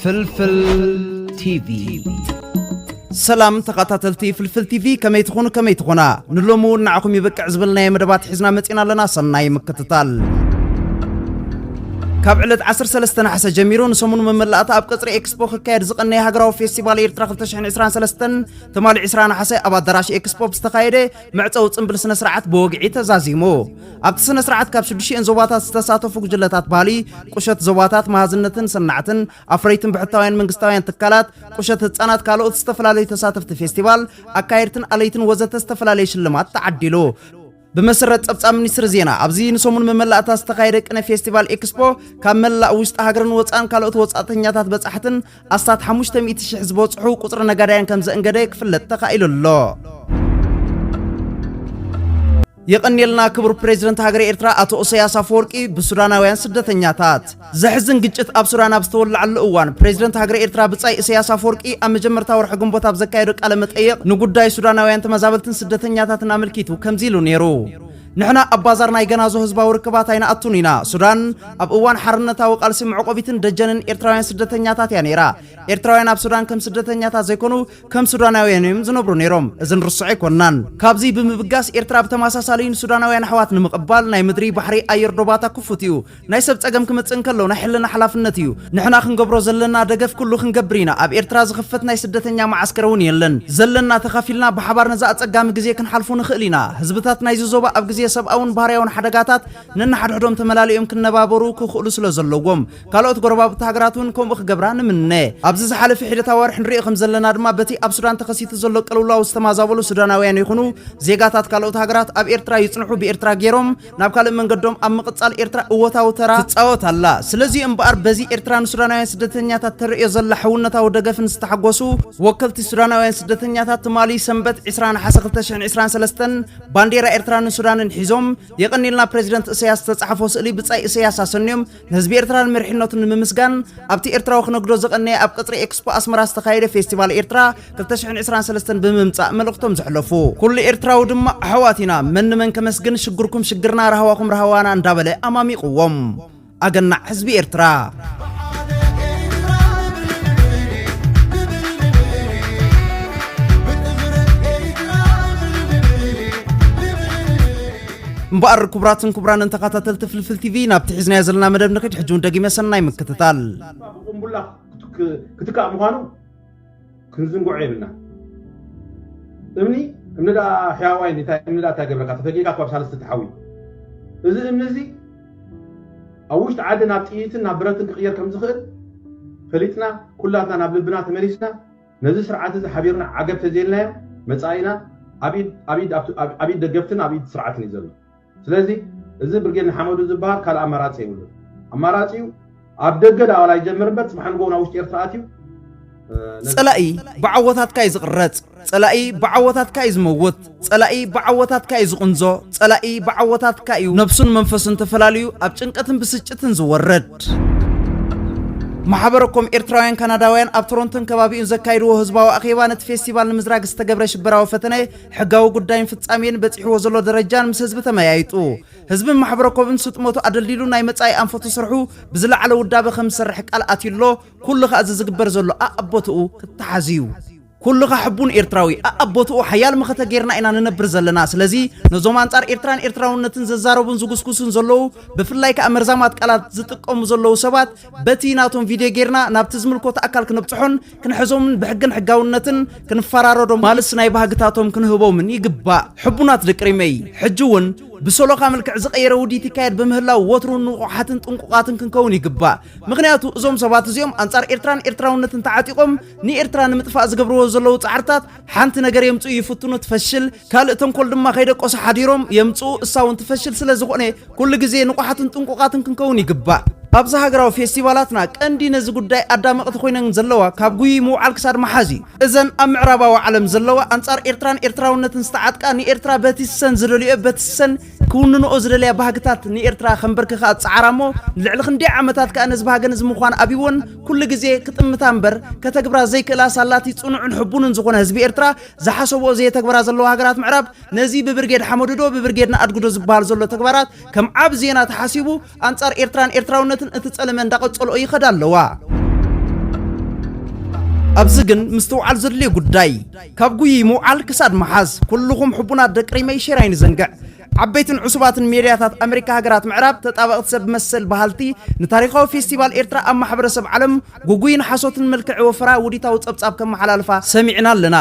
ፍልፍል ቲቪ ሰላም ተኸታተልቲ ፍልፍል ቲቪ ከመይ ትኾኑ ከመይ ትኾና ንሎሚ እውን ንዓኹም ይበቅዕ ዝበልናዮ መደባት ሒዝና መፂና ኣለና ሰናይ ምክትታል ካብ ዕለት ዓሰርተ ሰለስተ ነሓሰ ጀሚሩ ንሰሙን መመላእታ ኣብ ቀጽሪ ኤክስፖ ክካየድ ዝቐነየ ሃገራዊ ፌስቲቫል ኤርትራ 2023 ትማሊ ዕስራ ነሓሰ ኣብ ኣዳራሽ ኤክስፖ ብዝተኻየደ መዕጸዊ ጽምብል ስነ ስርዓት ብወግዒ ተዛዚሙ። ኣብቲ ስነ ስርዓት ካብ ሽዱሽኤን ዞባታት ዝተሳተፉ ጉጅለታት ባህሊ፣ ቁሸት ዞባታት፣ መሃዝነትን ሰናዕትን፣ ኣፍረይትን ብሕታውያን መንግስታውያን ትካላት፣ ቁሸት ህጻናት፣ ካልኦት ዝተፈላለዩ ተሳተፍቲ ፌስቲቫል፣ ኣካየድትን ኣለይትን ወዘተ ዝተፈላለየ ሽልማት ተዓዲሉ። ብመሰረት ጸብጻብ ሚኒስትሪ ዜና ኣብዚ ንሰሙን መመላእታ ዝተኻየደ ቅነ ፌስቲቫል ኤክስፖ ካብ መላእ ውሽጢ ሃገርን ወፃእን ካልኦት ወፃእተኛታት በጻሕትን ኣስታት 500,000 ዝበፅሑ ቁፅሪ ነጋዳያን ከም ዘእንገደ ክፍለጥ ተኻኢሉ ኣሎ። የቐንየልና ክቡር ፕሬዚደንት ሃገረ ኤርትራ ኣቶ ኢሳያስ ኣፈወርቂ ብሱዳናውያን ስደተኛታት ዘሕዝን ግጭት ኣብ ሱዳን ኣብ ዝተወለዓሉ እዋን ፕሬዚደንት ሃገረ ኤርትራ ብጻይ እሰያስ ኣፈወርቂ ኣብ መጀመርታ ወርሒ ግንቦት ኣብ ዘካየዶ ቃለ መጠየቕ ንጉዳይ ሱዳናውያን ተመዛበልትን ስደተኛታትን ኣመልኪቱ ከምዚ ኢሉ ነይሩ። ንሕና ኣብ ባዛር ናይ ገናዞ ህዝባዊ ርክባት ኣይንኣቱን ኢና። ሱዳን ኣብ እዋን ሓርነታዊ ቃልሲ መዕቆቢትን ደጀንን ኤርትራውያን ስደተኛታት እያ ነይራ። ኤርትራውያን ኣብ ሱዳን ከም ስደተኛታት ዘይኮኑ ከም ሱዳናውያን እዮም ዝነብሩ ነይሮም። እዚ ንርሱዕ ኣይኮናን። ካብዚ ብምብጋስ ኤርትራ ብተመሳሳሊ ንሱዳናውያን ኣሕዋት ንምቕባል ናይ ምድሪ፣ ባሕሪ፣ ኣየር ዶባታ ክፉት እዩ። ናይ ሰብ ጸገም ክመጽእ እንከሎ ናይ ሕልና ሓላፍነት እዩ። ንሕና ክንገብሮ ዘለና ደገፍ ኩሉ ክንገብር ኢና። ኣብ ኤርትራ ዝኽፈት ናይ ስደተኛ መዓስከር እውን የለን። ዘለና ተኻፊልና ብሓባር ነዚ ኣጸጋሚ ግዜ ክንሓልፎ ንኽእል ኢና። ህዝብታት ናይዚ ዞባ ኣብ ግዜ ሰብኣውን ባህርያውን ሓደጋታት ነንሓድሕዶም ተመላሊኦም ክነባበሩ ክኽእሉ ስለ ዘለዎም ካልኦት ጎረባብቲ ሃገራት እውን ከምኡ ክገብራ ንምነ። ኣብዚ ዝሓለፈ ሒደት ኣዋርሕ ንሪኦ ከም ዘለና ድማ በቲ ኣብ ሱዳን ተኸሲቱ ዘሎ ቅልውላው ዝተማዛበሉ ሱዳናውያን ይኹኑ ዜጋታት ካልኦት ሃገራት ኣብ ኤርትራ ይጽንሑ ብኤርትራ ገይሮም ናብ ካልእ መንገዶም ኣብ ምቕጻል ኤርትራ እወታዊ ተራ ትጻወት ኣላ። ስለዚ'ዩ እምበኣር በዚ ኤርትራ ንሱዳናውያን ስደተኛታት ተርእዮ ዘላ ሕውነታዊ ደገፍን ዝተሓጎሱ ወከልቲ ሱዳናውያን ስደተኛታት ትማሊ ሰንበት ዕስራ ነሓሰ ክልተ ሽሕን ዕስራን ሰለስተን ባንዴራ ኤርትራን ሱዳንን ሒዞም የቐንየልና ፕረዚደንት እሰያስ ዝተጻሕፎ ስእሊ ብጻይ እሰያስ ኣሰንዮም ንህዝቢ ኤርትራ ንመሪሕነቱ ንምምስጋን ኣብቲ ኤርትራዊ ክነግዶ ዝቐነየ ኣብ ቅጽሪ ኤክስፖ ኣስመራ ዝተኻየደ ፌስቲቫል ኤርትራ 223 ብምምጻእ መልእኽቶም ዘሕለፉ ኩሉ ኤርትራዊ ድማ ኣሕዋት ኢና መን ንመን ከመስግን ሽግርኩም ሽግርና ራህዋኹም ራህዋና እንዳበለ ኣማሚቕዎም ኣገናዕ ህዝቢ ኤርትራ እምበኣር ክቡራትን ክቡራንን ተኸታተልቲ ፍልፍል ቲቪ ናብቲ ሒዝናዮ ዘለና መደብ ንኽድ ሕጂ እውን ደጊመ ሰናይ ምክትታል ብቁምቡላ ክትካእ ምዃኑ ክንዝንግዖ የብልና እምኒ እምኒ ደኣ ሕያዋይ እምኒ ደኣ እንታይ ገብረካ ተፈጊካ ካብ ሳልስቲ ተሓዊ እዚ እምኒ እዚ ኣብ ውሽጢ ዓዲ ናብ ጥይትን ናብ ብረትን ክቕየር ከም ዝኽእል ፈሊጥና ኩላትና ናብ ልብና ተመሊስና ነዚ ስርዓት እዚ ሓቢርና ዓገብ ተዘይልናዮ መጻኢና ኣብ ኢድ ደገፍትን ኣብ ኢድ ስርዓትን እዩ ዘሎ። ስለዚ እዚ ብርጌድ ንሓመዱ ዝበሃል ካልእ ኣማራጺ የብሉን። ኣማራጺኡ ኣብ ደገ ደኣ ዋላ ይጀምር እምበር ጽባሕ ንግሆ ናብ ውሽጢ ኤርትራ ኣትዩ ጸላኢ ብዓወታትካ እዩ ዝቕረጽ፣ ጸላኢ ብዓወታትካ እዩ ዝመውት። ጸላኢ ብዓወታትካ እዩ ዝቕንዞ፣ ጸላኢ ብዓወታትካ እዩ ነብሱን መንፈሱን ተፈላልዩ ኣብ ጭንቀትን ብስጭትን ዝወርድ። ማሕበረ ኮም ኤርትራውያን ካናዳውያን ኣብ ቶሮንቶን ከባቢኡን ዘካይድዎ ህዝባዊ ኣኼባ ነቲ ፌስቲቫል ንምዝራግ ዝተገብረ ሽበራዊ ፈተነ ሕጋዊ ጉዳይን ፍጻሜን በጺሕዎ ዘሎ ደረጃን ምስ ህዝቢ ተመያይጡ ህዝብን ማሕበረ ኮብን ስጥመቱ ኣደልዲሉ ናይ መጻኢ ኣንፈቱ ስርሑ ብዝለዓለ ውዳበ ከም ዝሰርሕ ቃል ኣትዩ ኣሎ ኩሉ ከኣ እዚ ዝግበር ዘሎ ኣኣቦትኡ ክተሓዝ እዩ ኩልኻ ሕቡን ኤርትራዊ ኣኣብ ቦትኡ ሓያል መኸተ ጌርና ኢና ንነብር ዘለና ስለዚ ነዞም ኣንጻር ኤርትራን ኤርትራውነትን ዝዛረቡን ዝጉስጉሱን ዘለዉ ብፍላይ ከኣ መርዛማት ቃላት ዝጥቀሙ ዘለዉ ሰባት በቲ ናቶም ቪድዮ ጌርና ናብቲ ዝምልኮቶ ኣካል ክንብጽሖን ክንሕዞምን ብሕግን ሕጋውነትን ክንፈራረዶም ማልስ ናይ ባህግታቶም ክንህቦምን ይግባእ ሕቡናት ደቂ ሪመይ ሕጂ ውን ብሰሎኻ መልክዕ ዝቐየረ ውዲት ይካየድ ብምህላው ወትሩ ንቑሓትን ጥንቁቓትን ክንከውን ይግባእ ምኽንያቱ እዞም ሰባት እዚኦም ኣንጻር ኤርትራን ኤርትራውነትን ተዓጢቖም ንኤርትራ ንምጥፋእ ዝገብርዎ ዘለዉ ጻዕርታት ሓንቲ ነገር የምጽኡ ይፍትኑ ትፈሽል ካልእ ተንኮል ድማ ከይደቆሱ ሓዲሮም የምጽኡ እሳ እውን ትፈሽል ስለ ዝኾነ ኩሉ ግዜ ንቑሓትን ጥንቁቓትን ክንከውን ይግባእ ኣብዚ ሃገራዊ ፌስቲቫላትና ቀንዲ ነዚ ጉዳይ ኣዳመቕቲ ኮይነን ዘለዋ ካብ ጉይይ ምውዓል ክሳድ መሓዝ እዩ እዘን ኣብ ምዕራባዊ ዓለም ዘለዋ ኣንጻር ኤርትራን ኤርትራውነትን ዝተዓጥቃ ንኤርትራ በቲ ሰን ዝደልዮ በቲ ሰን ክውንንኦ ዝደለያ ባህግታት ንኤርትራ ከንበርክኻ ዝጸዓራ እሞ ልዕሊ ክንደይ ዓመታት ከኣ ነዚ ባህገን እዚ ምዃን ኣብይወን ኩሉ ግዜ ክጥምታ እምበር ከተግብራ ዘይክእላ ሳላቲ ጽኑዕን ሕቡንን ዝኾነ ህዝቢ ኤርትራ ዝሓሰብኦ ዘየተግበራ ዘለዋ ሃገራት ምዕራብ ነዚ ብብርጌድ ሓመዱዶ ብብርጌድ ንኣድጉዶ ዝበሃል ዘሎ ተግባራት ከም ዓቢ ዜና ተሓሲቡ ኣንጻር ኤርትራን ኤርትራውነትን እቲ ጸለመ እንዳቐጸልኦ ይኸዳ ኣለዋ። ኣብዚ ግን ምስትውዓል ዘድልዮ ጉዳይ ካብ ጉይይ ምውዓል ክሳድ ምሓዝ። ኩሉኹም ሕቡናት ደቂ ሪመይ ሼር ኣይንዘንግዕ። ዓበይትን ዕሱባትን ሜድያታት ኣመሪካ ሃገራት ምዕራብ ተጣበቕቲ ሰብ መሰል በሃልቲ ንታሪኻዊ ፌስቲቫል ኤርትራ ኣብ ማሕበረሰብ ዓለም ግጉይን ሓሶትን መልክዕ ወፈራ ውዲታዊ ጸብጻብ ከመሓላልፋ ሰሚዕና ኣለና።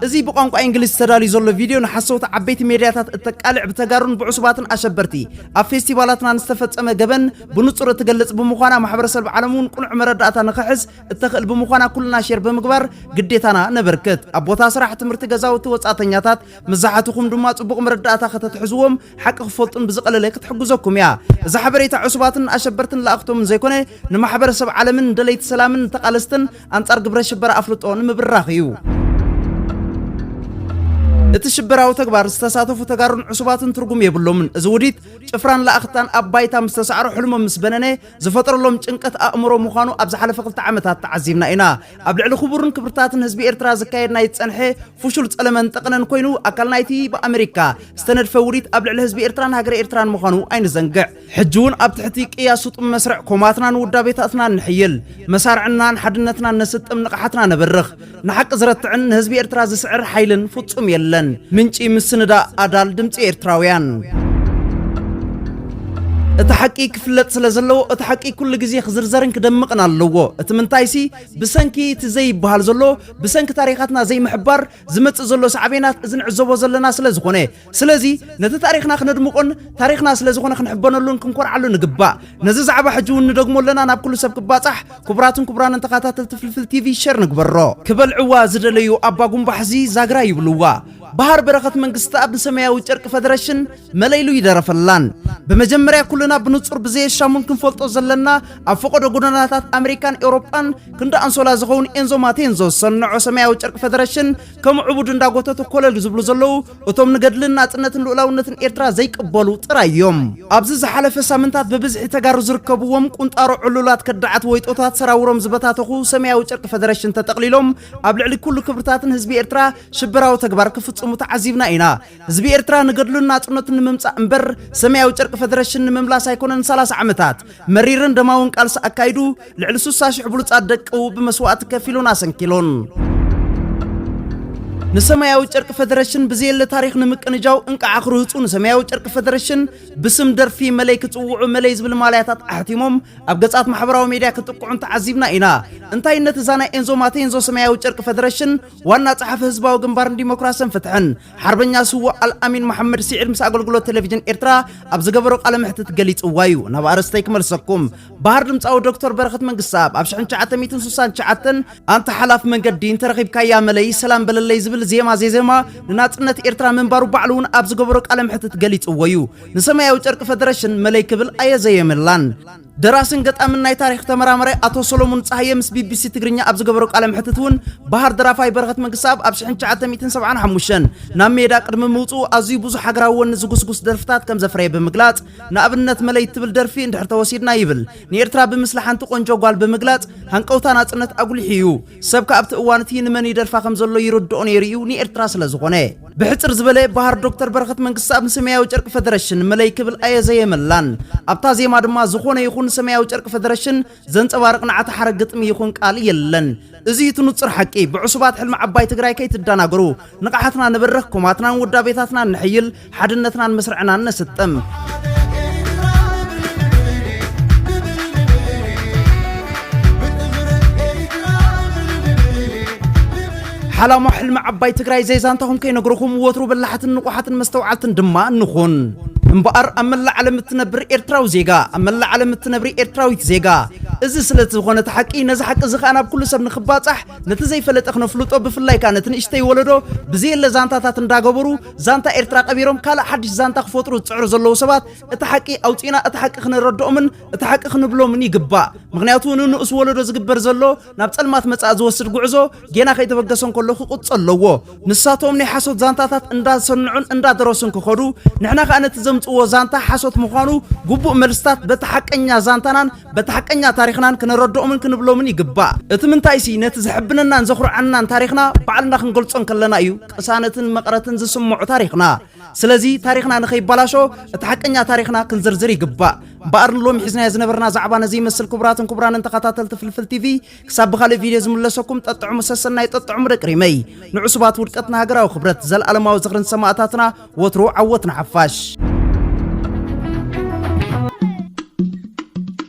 እዚ ብቋንቋ ኢንግሊዝ ተዳልዩ ዘሎ ቪድዮ ንሓሰውቲ ዓበይቲ ሜድያታት እተቃልዕ ብተጋሩን ብዕሱባትን ኣሸበርቲ ኣብ ፌስቲቫላትናን ዝተፈጸመ ገበን ብንጹር እትገልጽ ብምዃና ማሕበረሰልብ ዓለም እውን ቅኑዕ መረዳእታ ንኸሕዝ እተኽእል ብምዃና ኩልና ሼር ብምግባር ግዴታና ነበርክት። ኣብ ቦታ ስራሕ፣ ትምህርቲ፣ ገዛውቲ፣ ወጻእተኛታት፣ መብዛሕትኹም ድማ ጽቡቕ መረዳእታ ከተትሕዝዎም ሓቂ ክፈልጡን ብዝቐለለ ክትሕግዘኩም እያ። እዛ ሓበሬታ ዕሱባትን ኣሸበርትን ለኣኽቶምን ዘይኮነ ንማሕበረሰብ ዓለምን ንደለይቲ ሰላምን ንተቓለስትን ኣንጻር ግብረ ሽበራ ኣፍልጦ ንምብራኽ እዩ። እቲ ሽበራዊ ተግባር ዝተሳተፉ ተጋሩን ዕሱባትን ትርጉም የብሎምን። እዚ ውዲት ጭፍራን ለኣኽታን ኣብ ባይታ ምስ ተሳዕሮ ሕልሞም ምስ በነነ ዝፈጠረሎም ጭንቀት ኣእምሮ ምዃኑ ኣብ ዝሓለፈ ክልተ ዓመታት ተዓዚብና ኢና። ኣብ ልዕሊ ክቡርን ክብርታትን ህዝቢ ኤርትራ ዝካየድ ናይ ዝጸንሐ ፍሹል ጸለመን ጠቕነን ኮይኑ ኣካል ናይቲ ብኣመሪካ ዝተነድፈ ውዲት ኣብ ልዕሊ ህዝቢ ኤርትራን ሃገረ ኤርትራን ምዃኑ ኣይንዘንግዕ። ሕጂ እውን ኣብ ትሕቲ ቅያ ስጡም መስርዕ ኮማትናን ውዳቤታትናን ንሕይል፣ መሳርዕናን ሓድነትናን ነስጥም፣ ንቕሓትና ነበርኽ። ንሓቂ ዝረትዕን ንህዝቢ ኤርትራ ዝስዕር ሓይልን ፍጹም የለን። ምንጪ ምስንዳእ፣ ኣዳል ድምጺ ኤርትራውያን። እቲ ሓቂ ክፍለጥ ስለ ዘለዎ እቲ ሓቂ ኩሉ ግዜ ክዝርዘርን ክደምቕን ኣለዎ። እቲ ምንታይሲ ብሰንኪ እቲ ዘይበሃል ዘሎ ብሰንኪ ታሪኻትና ዘይምሕባር ዝመጽእ ዘሎ ሳዕቤናት እዚ ንዕዘቦ ዘለና ስለ ዝኾነ ስለዚ ነቲ ታሪኽና ክነድምቆን ታሪኽና ስለ ዝኾነ ክንሕበነሉን ክንኮርዓሉ ንግባእ ነዚ ዛዕባ ሕጂ እውን ንደግሞ ኣለና ናብ ኩሉ ሰብ ክባጻሕ ክቡራትን ክቡራንን ተኸታተልቲ ፍልፍል ቲቪ ሸር ንግበሮ ክበልዕዋ ዝደለዩ ኣባ ጉምባሕዚ ዛግራ ይብልዋ ባህር በረኸት መንግስትኣብ ንሰማያዊ ጨርቂ ፈደረሽን መለይሉ ይደረፈላን ብመጀመርያ ኩልና ብንጹር ብዘየሻሙን ክንፈልጦ ዘለና ኣብ ፈቐዶ ጎደናታት ኣሜሪካን ኤውሮጳን ክንዲ ኣንሶላ ዝኸውን ኤንዞ ማቴንዞ ዝሰንዖ ሰማያዊ ጨርቂ ፈደረሽን ከም ዕቡድ እንዳጎተቱ ኮለል ዝብሉ ዘለዉ እቶም ንገድልን ናጽነትን ልኡላውነትን ኤርትራ ዘይቅበሉ ጥራይ እዮም ኣብዚ ዝሓለፈ ሳምንታት ብብዝሒ ተጋሩ ዝርከብዎም ቁንጣሮ ዕሉላት ከዳዓት ወይጦታት ሰራውሮም ዝበታተኹ ሰማያዊ ጨርቂ ፈደረሽን ተጠቕሊሎም ኣብ ልዕሊ ኩሉ ክብርታትን ህዝቢ ኤርትራ ሽበራዊ ተግባር ክፍጽሙ ተዓዚብና ኢና ህዝቢ ኤርትራ ንገድሉን ናጽነቱን ንምምጻእ እምበር ሰማያዊ ጨርቂ ፈደረሽን ንምምላስ ኣይኮነን 30 ዓመታት መሪርን ደማውን ቃልሲ ኣካይዱ ልዕሊ 60 ሽሕ ብሉጻት ደቅኡ ብመስዋእቲ ከፊሉን ኣሰንኪሉን ንሰማያዊ ጨርቂ ፈደረሽን ብዘየለ ታሪኽ ንምቅንጃው እንቃዓ ክርህፁ ንሰማያዊ ጨርቂ ፈደረሽን ብስም ደርፊ መለይ ክጽውዑ መለይ ዝብል ማልያታት ኣሕቲሞም ኣብ ገጻት ማሕበራዊ ሜድያ ክጥቅዑን ተዓዚብና ኢና። እንታይነት እዛ ናይ ኤንዞ ማቴንዞ ሰማያዊ ጨርቂ ፈደረሽን ዋና ጸሓፊ ህዝባዊ ግንባር ንዲሞክራስን ፍትሕን ሓርበኛ ስዋእ ኣልኣሚን መሓመድ ስዒድ ምስ ኣገልግሎት ቴሌቪዥን ኤርትራ ኣብ ዝገበሮ ቃለ መሕትት ገሊጽዋ እዩ ናብ ኣርእስተይ ክመልሰኩም ባህር ድምፃዊ ዶክተር በረኸት መንግስታብ ኣብ 1969 ኣንታ ሓላፍ መንገዲ እንተረኺብካያ መለይ ሰላም በለለይ ዝብል ዜማ ዜዜማ ንናጽነት ኤርትራ ምንባሩ ባዕሉ እውን ኣብ ዝገበሮ ቃለ መሕትት ገሊጽዎ እዩ ንሰማያዊ ጨርቂ ፈደረሽን መለይ ክብል ኣየዘየመላን ደራስን ገጣምን ናይ ታሪኽ ተመራማራይ ኣቶ ሰሎሙን ጸሃየ ምስ ቢቢሲ ትግርኛ ኣብ ዝገበሮ ቃለ መሕትት እውን ባህር ደራፋይ በረኸት መንግስተኣብ ኣብ ሽሕን ትሽዓተ ሚእትን ሰብዓን ሓሙሽተን ናብ ሜዳ ቅድሚ ምውጽኡ ኣዝዩ ብዙሕ ሃገራዊ ወኒ ዝጉስጉስ ደርፍታት ከም ዘፍረየ ብምግላጽ ንኣብነት መለይ እትብል ደርፊ እንድሕር ተወሲድና ይብል ንኤርትራ ብምስሊ ሓንቲ ቆንጆ ጓል ብምግላጽ ሃንቀውታ ናጽነት ኣጉሊሑ እዩ። ሰብ ከ ኣብቲ እዋን እቲ ንመን ይደርፋ ከም ዘሎ ይርድኦ ነይሩ እዩ ንኤርትራ ስለ ዝኾነ ብሕጽር ዝበለ ባህር ዶክተር በረኸት መንግስትኣብ ንሰማያዊ ጨርቂ ፈደረሽን መለይ ክብል ኣየዘየመላን ኣብታ ዜማ ድማ ዝኾነ ይኹን ሰማያዊ ጨርቂ ፈደረሽን ዘንጸባርቕ ንዓተ ሓረ ግጥሚ ይኹን ቃል የለን እዚ እቲ ንጹር ሓቂ ብዕሱባት ሕልሚ ዓባይ ትግራይ ከይትደናገሩ ንቕሓትና ንበርኽ ኮማትናን ውዳቤታትናን ንሕይል ሓድነትናን ምስርዕናን ነስጥም። ሓላሞ ሕልሚ ዓባይ ትግራይ ዘይዛንታኹም ከይነግርኹም ወትሩ በላሓትን ንቑሓትን መስተውዓልትን ድማ ንኹን እምበኣር ኣብ መላእ ዓለም እትነብር ኤርትራዊ ዜጋ ኣብ መላእ ዓለም እትነብሪ ኤርትራዊት ዜጋ እዚ ስለ ዝኾነ እቲ ሓቂ ነዚ ሓቂ እዚ ከዓ ናብ ኩሉ ሰብ ንክባፃሕ ነቲ ዘይፈለጠ ክነፍልጦ ብፍላይ ከዓ ነቲ ንእሽተይ ወለዶ ብዘየለ ዛንታታት እንዳገበሩ ዛንታ ኤርትራ ቀቢሮም ካልእ ሓድሽ ዛንታ ክፈጥሩ ዝጽዕሩ ዘለዉ ሰባት እቲ ሓቂ ኣውጺእና እቲ ሓቂ ክነረድኦምን እቲ ሓቂ ክንብሎምን ይግባእ ምክንያቱ ንንኡስ ወለዶ ዝግበር ዘሎ ናብ ጸልማት መጻእ ዝወስድ ጉዕዞ ጌና ከይተበገሰ እንከሎ ክቁጽ ኣለዎ ንሳቶም ናይ ሓሶት ዛንታታት እንዳሰንዑን እንዳደረሱን ክኸዱ ንሕና ከኣ ነቲ ዘምጽዎ ዛንታ ሓሶት ምዃኑ ግቡእ መልስታት በቲ ሓቀኛ ዛንታናን በቲ ሓቀኛ ታሪኽናን ክነረድኦምን ክንብሎምን ይግባእ እቲ ምንታይሲ ነቲ ዘሕብነናን ዘኹርዓንናን ታሪኽና ባዕልና ክንገልጾ እንከለና እዩ ቅሳነትን መቐረትን ዝስምዖ ታሪኽና። ስለዚ ታሪኽና ንኸይባላሾ እቲ ሓቀኛ ታሪኽና ክንዝርዝር ይግባእ። እምበኣር ንሎሚ ሒዝናዮ ዝነበርና ዛዕባ ነዚ ይመስል ክቡራትን ክቡራንን ተኸታተልቲ ፍልፍል ቲቪ ክሳብ ብኻልእ ቪድዮ ዝምለሰኩም ጠጥዕሙ ሰሰናዩ ጠጥዕሙ ደቂ ሪመይ። ንዕሱባት ውድቀት ንሃገራዊ ክብረት ዘልኣለማዊ ዝኽሪ ንሰማእታትና ወትሩ ዓወት ንሓፋሽ።